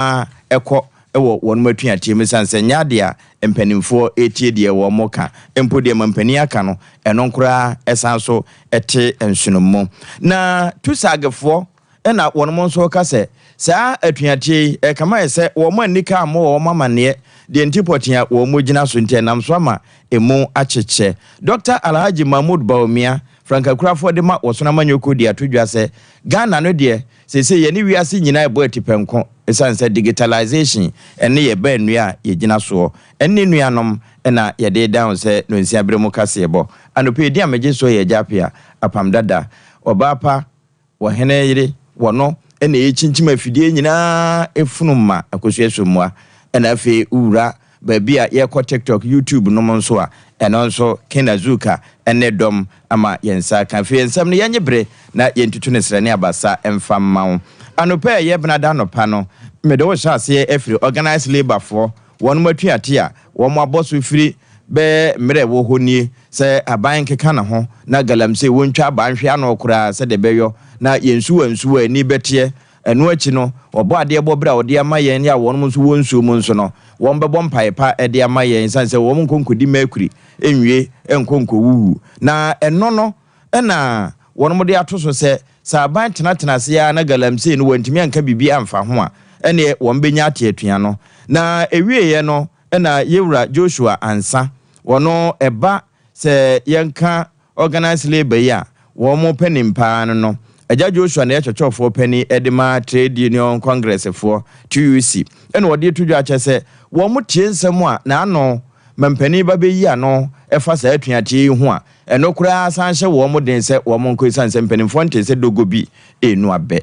ara kɔ wɔ wɔnom atuateɛ mu esiane sɛ ɛnyɛ adeɛ a mpaninfoɔ retie deɛ wɔnom reka mpo deɛ ma mpanin aka no ɛno nkoraa ɛsan nso te nsonom mu. Na Tusagfoɔ na wɔnom nso reka sɛ saa atuateɛ yi ɛkama yɛ sɛ wɔnom annika ammɔ wɔnom amanneɛ deɛ nti pɔtee a wɔnom gyina so nti ɛnam so ama ɛmu akyekyɛ. Dɔkta Alhaji Mahmood Bawumia, frankakurafoɔ de ma Wɔsono Amanyɔkuo de ato dwa sɛ Ghana no deɛ Seesei yɛne wiase nyinaa rebɔ atipɛnko esiane sɛ digitalisation ne yɛn baanua a yɛgyina soɔ ne nuanom na yɛde redan wo sɛ nonsia berɛ mu kaseɛbɔ. Anɔpa yi din a megye soɔ yɛ Agya Appiah, Apam Dada, Ɔbaa Pa, Ɔhene Yere, Wɔno na ɛrekyinkyim afidie nyinaa funum ma Akosua Sommua na afei wo wura Baabi a yɛkɔ TikTok, YouTube nom nso a, ɛno nso Ken Azuka ne dɔm ma yɛn nsa aka. Afei yɛn nsɛm no yɛnye bere na yɛntutu no srɛ ne abasa mfa mma wo. Anɔpa a ɛyɛ Benada anɔpa no, mede wo hyɛ aseɛ afiri Organised Labour foɔ wɔnom atuate a wɔn abɔ so firi bɛɛ mmerɛ ɛwɔ hɔ nie sɛ aban nkeka ne ho na galamsey wɔntwa aban hwe ano koraa sɛdeɛ ɛbɛyɔ na yɛn nsuwa nsuwa ani bɛteɛ Ɛno akyi no, wɔbɔ adeɛ bɔ berɛ a wɔde ama yɛn a wɔnom nso wɔ nsuo mu nso no, wɔbɛbɔ mpaeɛ pa de ama yɛn ɛsiane sɛ wɔn nkɔ nkɔdi mercury nwie nkɔ nkɔwuwu. Na ɛno no na wɔnom de ato so sɛ, sɛ aban tenatena ase ara na galamsey no wɔantumi anka biribi amfa ho a, ɛnneɛ wɔbɛnya ate atua no. Na ɛwieeɛ no na Yewura Joshua Ansah, ɔno ɛba Sɛ yɛka organised labour yi a wɔpɛ nim paa no no, Agya Joshua na ɛyɛ kyerɛkyerɛfoɔ panin de ma Trade Union Congressfoɔ, TUC, ɛna ɔde to dwa kyerɛ sɛ wɔtie nsɛm a n'ano mampanin ba bɛyi ano fa saa atuateɛ yi ho a ɛno koraa san hyɛ wɔn den sɛ wɔnkɔ ɛsiane sɛ mpanimfoɔ ntee sɛ dogo bi renu abɛ.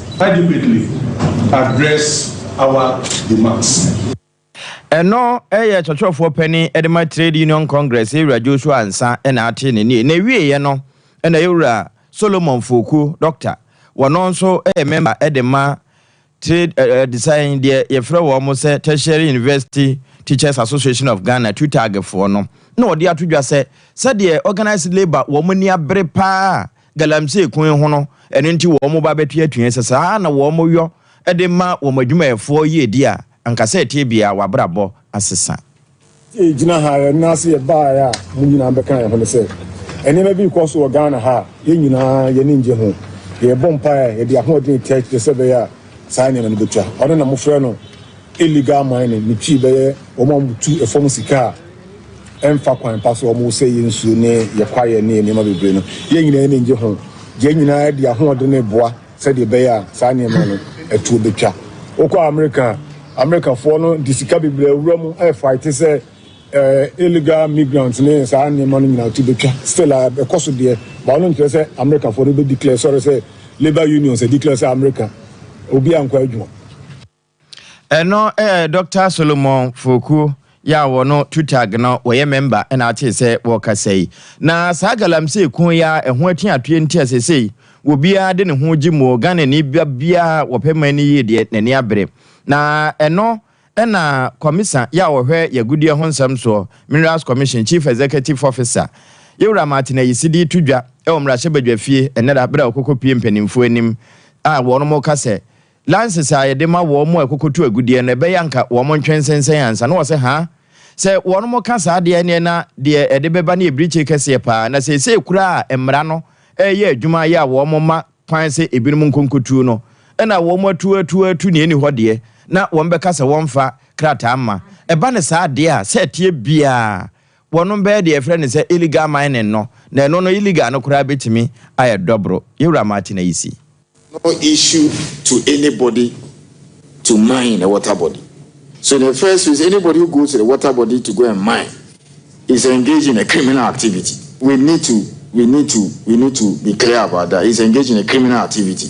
Adequately address our demands. Ɛno yɛ kyerɛkyerɛfoɔ panin de ma Trade Union Congress Yɛwura Joshua Ansah na ate ne nie. Na ɛwieɛ no na Yɛwura Solomon Foku, Doctor, wɔno nso yɛ member de ma Trade Adesae deɛ yɛfrɛ wɔn sɛ Tertiary University Teachers Association of Ghana, TUTAG, foɔ no na ɔde ato dwa sɛ sɛdeɛ Organised Labour wɔn ani abere pa ara Galamsey ko yi ho no, ɛno nti wɔba bɛto atua. Sɛ saa ara na wɔyɔ de ma wɔn adwumayɛfoɔ yiedie a, anka sɛ ɛteɛ biara w'abrabɔ asesa. Sɛ yɛgyina ha a, yɛn nan ase yɛbaeɛ a, mo nyinaa bɛka yɛn ho ne sɛ, nneɛma bi rekɔ so wɔ Ghana ha a, yɛn nyinaa yɛn ani nnye ho. Yɛrebɔ mpaeɛ, yɛde ahoɔden retia akyire sɛ ɛbɛyɛ a saa nneɛma no bɛtwa. Ɔno na mofrɛ no. Illegal mining no twi bɛyɛ wɔn a wɔtu fam sika a ɛmfa kwan pa so a wɔsɛe yɛn nsuo ne yɛn kwaeɛ ne yɛn nneɛma bebree no. Yɛn nyinaa ani gye ho. Yɛn nyinaa de ahoɔden reboa sɛdeɛ ɛbɛyɛ a saa nneɛma no atuo bɛtwa. Wokɔ Amerika a, Amerikafoɔ no de sika bebree awura mu refaete sɛ illegal migrants ne saa nneɛma no nyinaa to bɛtwa. Still a, ɛkɔ so deɛ, but ɛno nkyerɛ sɛ Amerikafoɔ no bɛ declare sɔre sɛ labour unions declare sɛ Amerika obiara nkɔ adwuma. Eno eh Doctor Solomon Fokuo yi a wɔno Tutag no wɔyɛ mɛmba na atee sɛ wɔɔkasa yi. Na saa Galamsey ko yi ara ɛho atuatue nti a sesei wɔbiara de ne ho gye mu o, Ghanani ba biara wɔpɛ man no yie deɛ n'ani abere. Na ɛno na Kɔmisa yi a wɔhwɛ yagudeɛ ho nsɛm soɔ, Minerals Commission, Chief Executive Officer, Yewura Martin Ayisi de reto dwa wɔ Mmarahyɛbadwafie ɛnnɛ da berɛ a wɔkɔkɔ pue mpaninfoɔ anim a wɔnom ka sɛ, Lances a yɛde ma wɔn a ɛkokotu agudeɛ no, ɛbɛyɛ anka wɔn ntwe nsensɛn ansa. Na wɔse, Haa? Sɛ wɔnom ka saa deɛ, ɛneɛ na deɛ ɛde bɛba no yɛ birikyire kɛseɛ paa. Na seesei koraa a mmara no reyɛ adwuma ayɛ a wɔn mma kwan sɛ ebinom nkɔ nkɔtuo no, na wɔn atu atu atu nea ɛnni hɔ deɛ, na wɔn bɛka sɛ wɔmfa krataa mma. Ɛba no saa deɛ a, sɛ ɛteɛ biara Wɔnom bɛyɛ deɛ yɛfrɛ no sɛ illegal mining no, na ɛno no illegal no koraa bɛtumi ayɛ dɔboro. Yɛwura Martin ayi si. No issue to anybody to mine the water body. So in the first place, anybody who goes to the water body to go and mine is engaged in a criminal activity. We need to, we need to, we need to be clear about that. He's engaged in a criminal activity.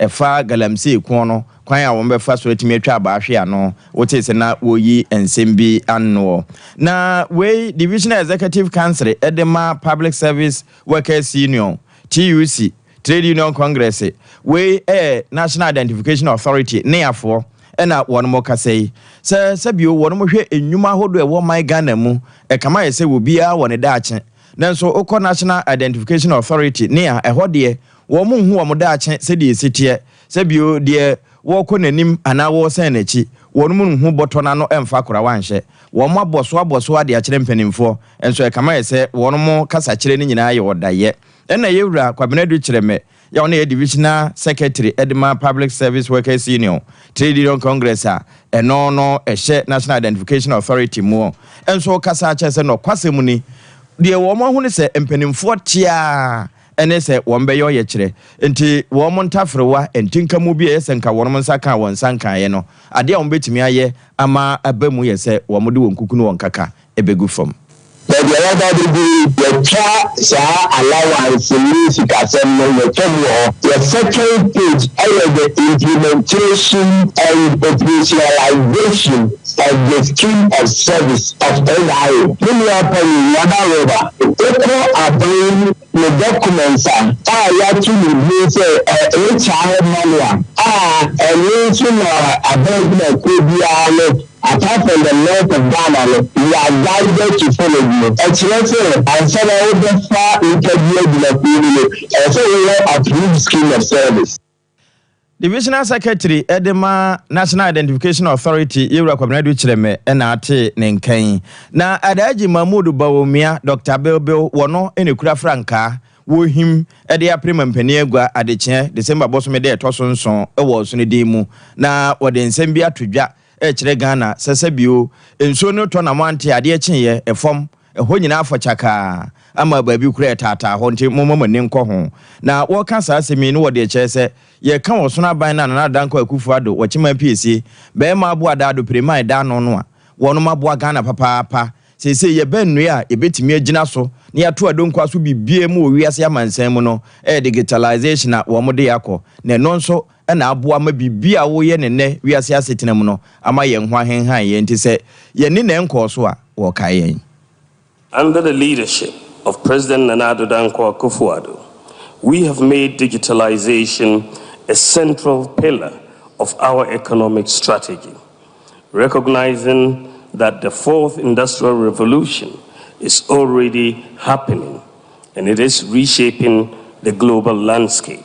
Ɛfa galamsey ko no kwan a wɔbɛfa so atumi atwa abaa hwe ano. Wotee sɛ na wɔreyi nsɛm bi anoɔ. Na wei, Divisional Executive Council de ma Public Service Workers Union, TUC, Trade Union Congress, wei yɛ National Identification Authority, NIAfoɔ, na wɔnom kasa yi. Sɛ sɛ bio, wɔnom hwɛ nnwuma ahodoɔ a ɛwɔ ɔman Ghana mu. Ɛkama yɛ sɛ obiara wɔ ne daakye. Nanso wokɔ National Identification Authority, NIA, ɛhɔ deɛ, Wɔrenhu wɔn daakye sɛdeɛ ɛsi teɛ, sɛ bio, deɛ wɔrekɔ n'anim anaa wɔresane n'akyi, wɔnom renhu bɔtɔ no ano mfa kora wɔanhyɛ. Wɔabɔ so abɔ so ade akyerɛ mpanimfoɔ, nso ɛkame ayɛ sɛ wɔnom kasakyerɛ no nyinaa yɛ ɔdayɛ. Ɛnna Yɛwura Kwabena Adu Kyerɛmɛ a ɔno yɛ Divisional Secretary de ma Public Service Workers Union Trade Union Congress a ɛno no ɛhyɛ National Identification Authority mu nso kasaa kyerɛɛ sɛ nɔkwasɛm ni, deɛ wɔahu ne sɛ mpanimfoɔ te ara ne sɛ wɔbɛyɛ ɔyɛkyerɛ. Enti wɔn ntaferewa, ntinkamu bi a ɛyɛ sɛ nka wɔn nsa kaa wɔn nsa nkaeɛ no, adeɛ a wɔbɛtumi ayɛ ama aba mu yɛ sɛ wɔde wɔn kuku ne wɔn nkaka bɛgu fam. Baabi a yɛaba abɛduru yi, yɛatwa saa allowance ne sikasɛm no, yɛatwa mu wɔ hɔ. Yɛ second stage yɛ the implementation and operationalization. of the School of Service of Ohio, me nua panyin Wada Rober, ekɔ aban ne dɔkumɛnt a a yɛato ne din sɛ HR Manual a ɛno nso na aban gyinakuo biara no apart from the North of Ghana no you are guided to follow bio. Ɛkyerɛ sɛ ansa na wobɛfa nipa bi agyinakuo mu no ɛwɔ sɛ wowɔ approved School of Service. Divisional Secretary de ma National Identification Authority, Yewura Kwabena Adu Kyerɛmɛ na atee ne nka yi. Na Alhaji Mahmood Bawumia, Dɔkta Bilbil, wɔ no na ekura frankaa wɔ Ohim de apere ma mpanin agua adekyeɛ, December bosome da a ɛtɔ so nson wɔ ɔsono din mu. Na wɔde nsɛm bi ato dwa Ɛkyerɛ Ghana sɛsɛ bio. Nsuo no tɔ na moante adeɛ kyeeɛ, ɛfam, ɛhɔ nyinaa afɔ kyakaa ama baabi koraa ɛtaataa hɔ nti momma mo ani nkɔ ho. Na wɔka saa asɛm yi ne wɔde ɛkyerɛ sɛ yɛka Ɔsono Aban no a Nana Dankwa Akufo Addo wɔ Kyeman Piesie, Bɛɛma Aboa Ada Addo Pire Mae Da Ano no a wɔnom aboa Ghana papaapa. Seesei yɛbɛ nnue a yɛbɛtumi agyina so na yɛato adonkwa so bibie mu wɔ wiase amansan mu no ɛyɛ digitalisation a wɔmode yɛ akɔ na ɛno nso na aboa ma biribi a woyɛ no nnɛ wiase asetena mu no ama yɛn ho ahenhan yɛn nti sɛ yɛne nɛɛ nkɔɔ so a, wɔkae yɛn. Under the leadership of President Nana Addo Dankwa Akufo-Addo, we have made digitalization a central pillar of our economic strategy, recognizing that the fourth industrial revolution is already happening and it is reshaping the global landscape.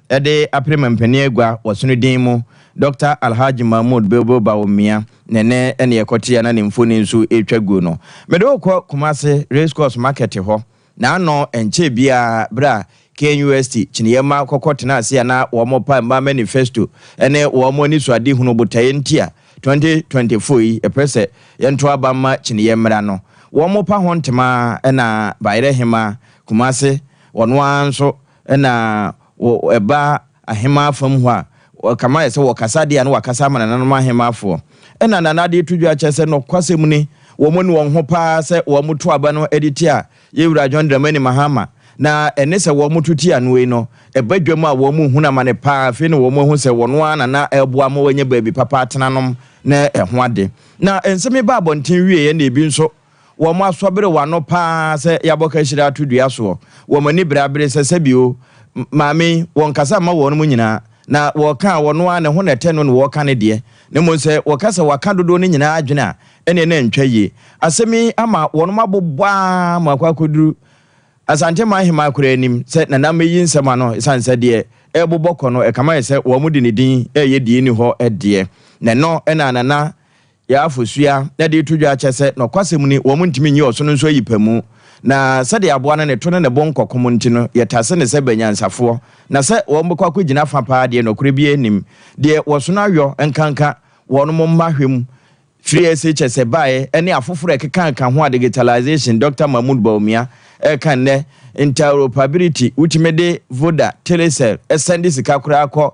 Yɛde apere ma mpanin agua wɔ sono din mu, Dɔkta Alhaji Mahmood Bilbil Bawumia, na ɛnnɛ na yɛkɔte a na ne mfoni nso retwa gu no. Mede wo kɔ Kumasi Race Course Market hɔ, na ano nkyɛɛ biara bere a KNUST kyiniiɛ mma kɔkɔ tenaa ase a na wɔrepa mma manifesto ne wɔn anisoadehunu botaeɛ nti a 2024 yi yɛpɛ sɛ yɛnto aba mma kyiniiɛ mmara no. Wɔrepa ho ntema na Bayerɛ Hema, Kumasi, ɔno ara nso Nna wɔ ɛba ahemaa fam hɔ a, wɔkama ayɛ sɛ wɔkasa deɛ a na wɔakasa ama nananom ahemaafoɔ. Nna Nana Adetudwa kyerɛ sɛ nɔkwasɛm ni, wɔn nu wɔn ho pa ara sɛ wɔto aba no de tia yɛn Wura John Dramani Mahama, na ɛne sɛ wɔto tia no ei no, ɛba dwam a wɔn hunu amane pa ara. Afei na wɔn ahu sɛ wɔn ara na na ɛreboa ma wɔanya baabi papa atena nom ne ɛho ade. Na nsɛm yi baa abɔnten wieɛ na ebi nso Wɔn asɔ bere w'ano paa sɛ yɛabɔ kahyire ato dua soɔ. Wɔn ani bere abere sɛ sɛbi o, Maame yi, wɔnkasa mma wɔnom nyinaa, na wɔka a, ɔno ara ne ho na ɛtɛ no na wɔka ne deɛ. Na mmom sɛ wɔka sɛ wɔaka dodoɔ no nyinaa adwene a, ɛneɛ na ɛntwa yie. Asɛm yi ama wɔnom abobɔ ara ma akɔ akɔduru Asanteman Hemaa koraa anim sɛ Nana mmɛyi nsɛm ano ɛsiane sɛ deɛ ɛrebobɔ kɔ no, ɛkame ayɛ sɛ wɔnom de ne din reyɛ deɛ ɛnni hɔ deɛ. Na ɛno na Nana Yɛ afosua na de to dwa kyɛ sɛ nokwasɛm ni, wɔn ntumi nyi ɔsono nso ayi pamu. Na sɛdeɛ aboa no ne to ne ne bo nkɔ kom nti no, yɛtase no sɛ banyansafoɔ, na sɛ wɔbɛkɔ akɔgyina fa pa ara deɛ nokorɛ biara nnim. Deɛ wɔsono ayɔ nkanka wɔn mo mma hwɛ mu, firi SHS baeɛ ne afoforɔ a ɛkekaaka ho a digitalization Dɔkta Mahmoud Bawumia reka nnɛ, interoperability, wotumi de Voda, Telecel sɛnde sika koraa kɔ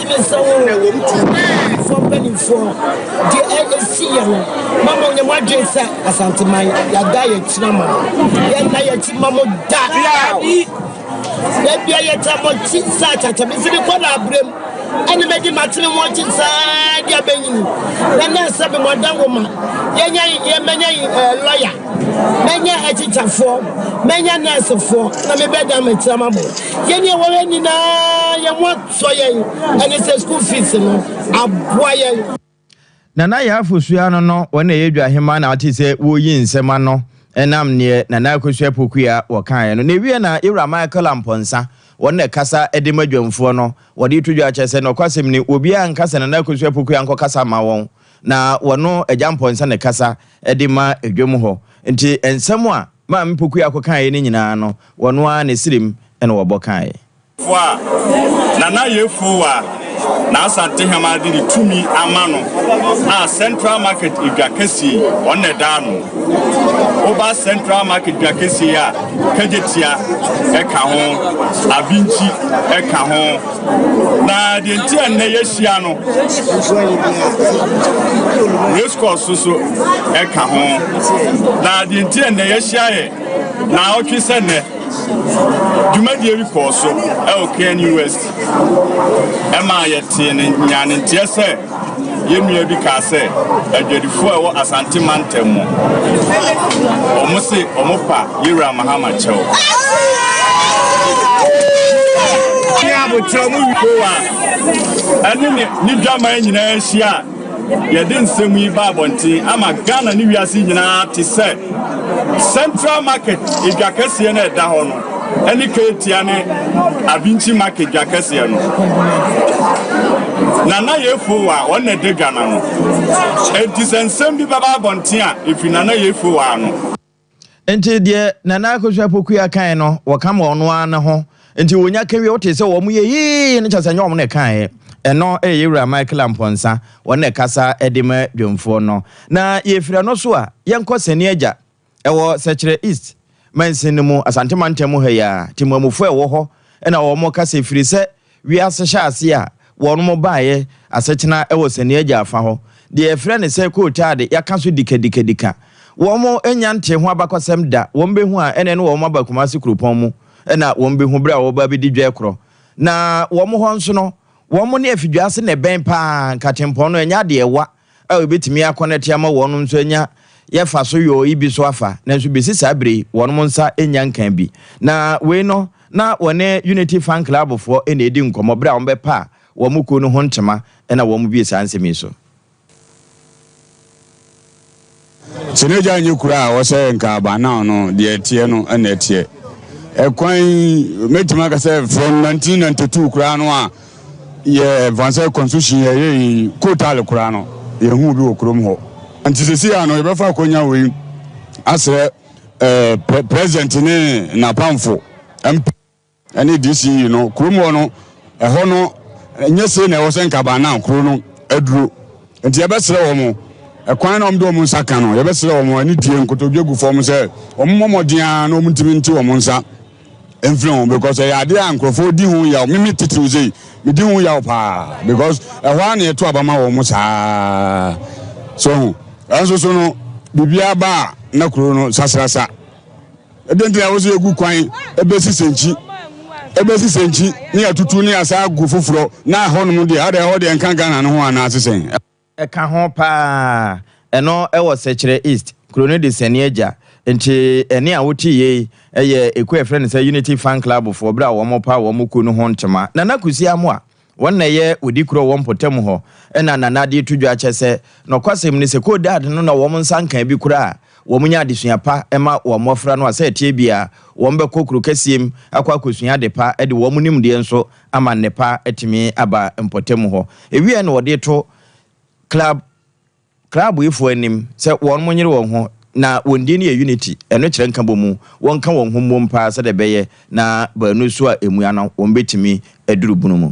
Mesereww Amanfoɔ mpaninfoɔ deɛ ɛsi yɛ no ma mo nyɛ mo adwen sɛ Asanteman yɛada yɛ akyi na ma yɛnna yɛ akyi ma mo da daabi daabia yɛta mo akyi saa kyakya mefi me kɔ na abrem ɛne mɛdi matene mo akyi saa deɛ bɛnyini na na sɛ me mo ada wo ma yɛnya yɛ mɛnya lɔya mɛnya akyikyafoɔ mɛnya nɛɛsefoɔ na mebɛda makyira ma mo yɛne ɛwɔ hɛ nyinaa yɛ mo sɔ yɛn ɛne sɛ school fees no aboa yɛn. Nana Yaa Fosu ano no wɔn na ɛyɛ dwahema na wote sɛ wɔreyi nsɛm ano ɛnam neɛ Nana Akosua Apokua wɔkaeɛ no. Na ɛwie na Yɛwura Michael Amponsah wɔn na ɛkasa de ma dwamfoɔ no wɔde to dwa akyerɛ sɛ nɔkwasɛm ni obiara nka sɛ Nana Akosua Apokua nkɔkasa mma wɔn na wɔno Agya Amponsah na ɛkasa de ma dwam hɔ nti nsɛm a Maame Pokua kɔkaeɛ no nyinaa no wɔno ara ne sirem na wɔbɔ kaeɛ. Fo a Nana Yefo a na Asantehama de ne tumi ama no a Central Market edwa kɛseɛ yi ɔno na ɛda ano. Woba Central Market dwa kɛseɛ yi a Kagyetia ɛka ho, Abinkyi ɛka ho. Na deɛ nti a nnɛ yɛahyia no Race course so so ɛka ho. Na deɛ nti a nnɛ yɛahyia yɛ naawɔtwe sɛ nnɛ Dwumadie bi kɔɔ so wɔ KNUST ɛmaa yɛtee ne nyanenteɛ sɛ yɛn nua bi kaa sɛ adwadifoɔ a ɛwɔ Asante mantam mu wɔn se wɔn pa Yewura Mahama kyɛw. Abotrɛ mu wikowa ɛne ne dwaman nyinaa hyia. Yɛde nsɛm yi ba abɔnten ama Ghana ne wiase nyinaa te sɛ Central Market edwa kɛseɛ no a ɛda hɔ no ɛne Keetia ne Abinkyi Market dwa kɛseɛ no. Nana Yefowa wɔn na ɛda dwa no ano. Enti sɛ nsɛm bi bɛba abɔnten a ɛfiri Nana Yefowa ano. Nti deɛ Nana Akosua Pokuya kae no wɔka ma ɔno ara ne ho nti wɔnya ka wie wote sɛ wɔn yɛ hii no kyɛ sɛ nyɛ wɔn na ɛkaeɛ ɛno ɛyɛ yɛwura Michael Ampɔnsa wɔn na ɛkasa ɛde ma dwamfoɔ no na yɛfiri ɛno so a yɛnkɔ Sani Agya ɛwɔ Sɛkyerɛ East mansin no mu Asante mantam ha yi a Temamufoɔ ɛwɔ hɔ ɛna wɔn kasa ɛfiri sɛ Wiase hyɛase a wɔnom baeɛ asetena wɔ Saniagya afa hɔ, deɛ yɛfrɛ no sɛ kootaa de, yɛaka so dikadikadika. Wɔnom nnya ntee ho abakɔsɛm da, wɔn bɛhu a ɛneɛ ne wɔnom aba Kumasi kuropɔn mu na wɔnom bɛhu berɛ a wɔnom bɛba abɛdi dwɛ korɔ. Na wɔnom hɔ nso no, wɔnom ne afidwase na ɛbɛn paa, nkatempɔn no ɛnyɛ adeɛ ɛwa, a wobetumi akɔnɛte ama wɔnom nso anya yɛ fa so yɔɔ yi bi so afa, nanso besi saa bere yi wɔnom nsa nnya nkaa bi. Na wei no na wɔne Unity Fan Club foɔ na edi nkɔmmɔ bere a wɔbɛpaa wɔn kuo no ho ntema na wɔbue saa nsɛm yi so. Sɛ n'agya nyɛ kura a ɔsɛ nka abannaw no deɛ ɛteɛ no na ɛteɛ. Ɛkwan mɛtumi aka sɛ from 1992 koraa no a yɛ vansɛ constitution yɛ yɛ yi kotaale koraa no yɛ hu bi wɔ kurom hɔ. Nti sɛ si ya no yɛbɛfa akonya wei asrɛ eh, president ne napamfo mp. ne DCE no kurom hɔ no ɛhɔ no nyɛ sei na ɛwɔ sɛ nkaban na kuro no aduro nti yɛbɛsrɛ wɔn mo ɛkwan na wɔn de wɔn nsa ka no yɛbɛsrɛ wɔn mo ani die nkotodwe gu fam sɛ wɔn mmɔ mmɔden a na wɔn ntumi nte wɔn nsa mfiri ho because ɛyɛ adeɛ a nkurɔfoɔ di ho yaw mimi titiriw sei medi ho yaw paa because ɛhɔ a na yɛto aba ma wɔn mo saa so ho ɛnso so no biribiara ba a na kuro no sasrasa Ɛdɛn nti na ɛwɔ sɛ yegu kwan besi sɛnkyi, besi sɛnkyi ne atutu ne asan agu foforɔ na ɛhɔnom deɛ adɛn ɛhɔ deɛ ɛnka Ghana no ho anaa se sɛn? Ɛka ho paa. Ɛno ɛwɔ Sɛkyerɛ East. Kuro no de Sani Agya. Nti ɛne a wote yei ɛyɛ ekuo a yɛfrɛ no sɛ Unity Fan Club foɔ berɛ a wɔn repaw wɔn kuo no ho ntoma. Nana Kwesi Amoah Wɔn na ɛyɛ wodi kuro wɔ mpɔtam hɔ na Nana de to dwa kyɛ sɛ nɔkwasɛm ni sɛ Codead no na wɔn nsa nkaa bi koraa a wɔnya adesua pa ma wɔn mmɔfra no a sɛ ɛteɛ biara wɔn bɛkɔ kuro kɛseɛm akɔ akɔsua ade pa de wɔn nimdeɛ nso ama nnepa atumi aba mpɔtam hɔ. Ɛwieɛ na wɔde to Club Kraboefoɔ anim sɛ wɔn mo nyere wɔn ho na wɔn din no yɛ unity ɛno kyerɛ nkabomu wɔn ka wɔn ho mmom paa sɛdeɛ ɛbɛyɛ na baanu so a ɛmua no wɔn bɛtumi aduru bunu mu.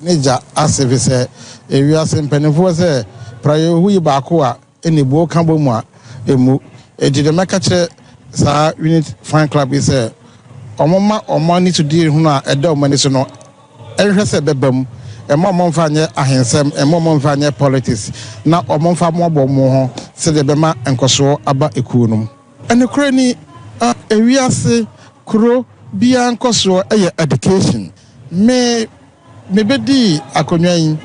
Ne gya ase fisɛ ewiase mpaninfoɔ sɛ Prayohu yi baako a ɛni buo ka bɔ mu a ɛmmu ɛnti deɛ mɛka kyerɛ saa unity fan club yi sɛ wɔn mma wɔn ani so die hunu a ɛda wɔn ani so no Nhwɛ sɛ bɛba mu. Mma ɔmo mfa nyɛ ahensɛm, mma ɔmo mfa nyɛ politics, na ɔmo mfa mmoaboa ɔmo ho sɛdeɛ ɛbɛma nkɔsoɔ aba ekuo no mu. Nokorɛ ni, ewiase kuro biara nkɔsoɔ yɛ education. Me, me bɛdii akonnwa yi,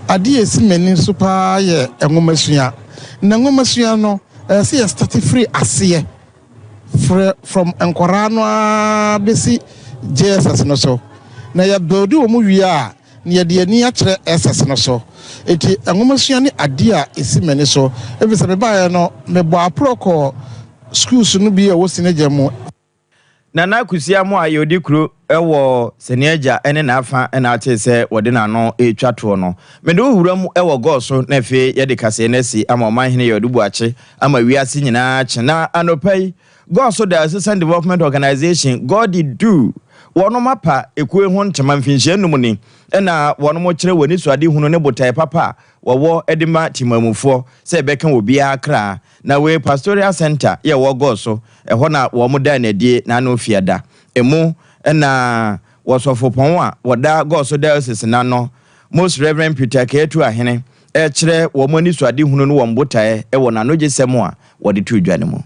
adeɛ a ɛsi m'ani so paa yɛ nwomasua. Na nwomasua no, ɛsɛ sɛ yɛ starte firi aseɛ frɛ from nkwadaa no ara bɛsi JSS no so na yɛ build wɔn wie a na yɛde yɛn ani akyerɛ SS no so nti nwomasua ne adeɛ a ɛsi m'ani so ɛfiri sɛ mebaeɛ no mebɔɔ aporɔ kɔɔ schools no bi a ɛwɔ Sinagya mu. Nana Akosua Amoah yɛ Odikuro wɔ Saniagya ne n'afa na atee sɛ wɔde n'ano retwa toɔ no. Mede wo wura mu wɔ Gɔɔ so na afei yɛde kaseɛ no asi ama Ɔmanhene Yaw Adu Boakye Ama wiase nyinaa akye na anɔpa yi God so da Asisan Development Organisation, Godi, du. Wɔnom apa ekuo yi ho ntema mfinhyia nnum ni na wɔnom kyerɛ wɔn anisoade hunu ne botae papa a wɔwɔ de ma temanmufoɔ sɛ ɛbɛka obiara kra. Na wei Pastoral Centre yɛ ɛwɔ Gor so, ɛhɔ na wɔnom daa no adie na ano fiada. Emu na Wɔsɔfopɔn a wɔda Gor so Diocese no ano, Most Reverend Peter Kay Atuahene, rekyerɛ wɔn anisoadehunu ne wɔn botaeɛ wɔ n'anogyesɛm a wɔde too dwa no mu.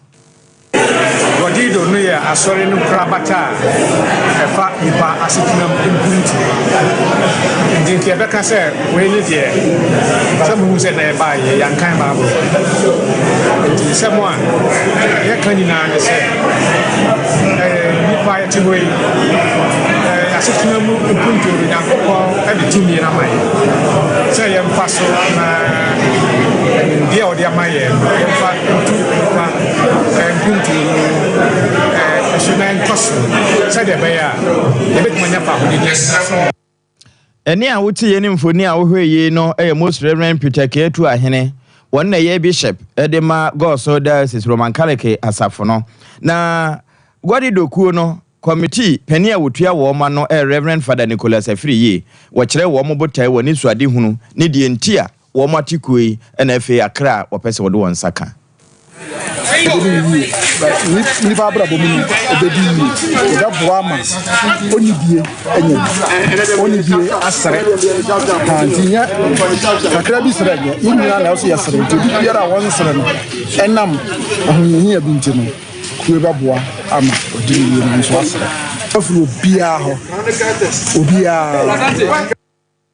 Godido no yɛ Asɔre no nkorabata a ɛfa nnipa asetenam mpuntuo ho. Nti nka yɛbɛka sɛ wei ne deɛ sɛ mohu sɛ na ɛbaa yie, yɛankan Bible hɔ. Nti nsɛm a yɛka nyinaa ne sɛ ɛyɛ nnipa a yɛte hɔ yi asetenam mpuntuo no Nyankopɔn de tumi no ama yɛn sɛ yɛmfa so na nimdeɛ a ɔde ama yɛn no yɛmfa ntu nnipa mpuntuo no ɛso na ɛntɔ so sɛdeɛ ɛbɛyɛ a yɛbɛtumi anya fahodidi nso. Ɛne a wote yɛ ne mfoni a wohwɛ yie no yɛ Most Reverend Peter Keatu Ahene, wɔn na ɛyɛ Bishop de ma Gɔɔso Diocese Roman Catholic Asafo no. Na Guadi Dokuo no Kɔmitii panin a ɔtua wɔn ma no ɛ Rev. Fada Nicholas Afiriye, wɔkyerɛɛ wɔn botae, wɔn anisoadehunu, ne deɛ nti a wɔate kuo yi na afei akra a wɔpɛ sɛ wɔde wɔn nsa ka. ɛbɛdi no yie but nnipa abrabɔ mu no ɛbɛdi yie ɛbɛboa ama ɔnidie anya bi ɔnidie asere ha nti nyɛ kakra bi serɛ nyɛ yɛn nyinaa na ɛso yɛsere nti obi biara a wɔnsere no ɛnam ahohiahia bi nti no Kue bɛboa ama ɔde ne yere no nso asra afiri obiara hɔ, obiara.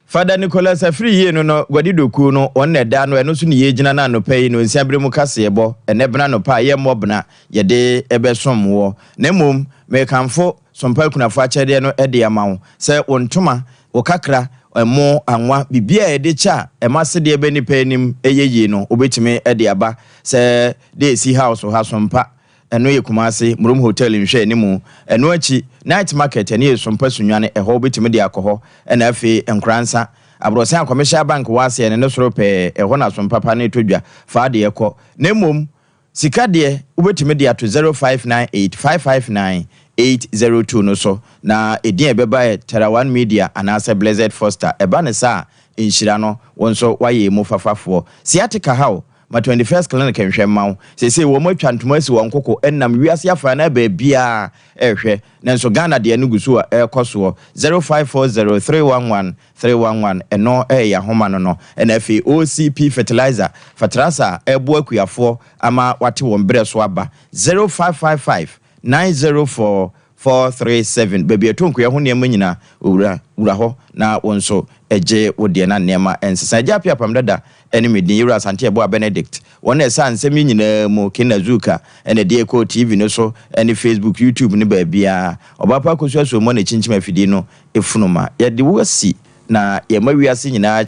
Fada Nicholas Afiri yie no no Guadi Dokuo no wɔn na ɛda ano ɛno so ne yɛɛgyina no anɔpa yi no nsia berɛ mu kaseɛbɔ ɛnɛ bena anɔpa a yɛmmɔ bena yɛde bɛsom woɔ na mmom merekamfo Sompa akunafo akyɛdeɛ no de ama wo, sɛ wo ntoma, wo kakra, ɛmo, anwa, biribiara a yɛde kyɛ a ɛma asedeɛ ba nnipa anim yɛ yie no, wobɛtumi de aba. Sɛ deɛ ɛsi House ha, Sompa, ɛno yɛ Kumasi, Murum Hotel nhwɛanimu. Ɛno akyi, Night Market, ɛno yɛ Sompa Sunyani, ɛhɔ wobɛtumi de akɔ hɔ. Ɛna afei, Nkoransa, Abrɔsan a Commercial Bank wɔ aseɛ no, ne soro pɛɛ, ɛhɔ na Sompa pa no tɔ dwa. Fa adeɛ kɔ. Na mmom. Sika deɛ, wobɛtumi de ato 0598 559 802 no so, na ɛdin a ɛbɛba yɛ Terawan Media anaasɛ Blessed Foster. Ɛba no saa a, nhyira no, wo nso woayɛ ɛmu fafafoɔ. Sciatica ha wo? Ma 21st Clinic nhwɛ mma wo. Seesei wɔn atwa ntoma asi wɔn koko ɛnam wiase afanan baabiara ɛrehwɛ, nanso Ghana deɛ no gu so a ɛrekɔ soɔ. 0540 311 Three one one ɛno ɛyɛ ahoma no no ɛna afei OCP fertilizer fatrasa a ɛboa akuafoɔ ama wate wɔn berɛ so aba zero five five five nine zero four four three seven baabi a ɛtɔ nkuya ho nneɛma nyina owura wura hɔ na wo nso gye wo deɛ na nneɛma ɛnsesa agya apiapam dada Ɛne me din Yewura Asante Abua Benedict. Wɔn na ɛsaa nsɛm yi nyinaa mu, Kina Zuka, ɛna ɛde ɛkɔɔ TV no so, ɛne Facebook, YouTube ne baabiara. Ɔbaapa Akosua Suommɔ na ɛkyinkyim afidie no funu ma. Yɛde wo asi na yɛma wiase nyinaa.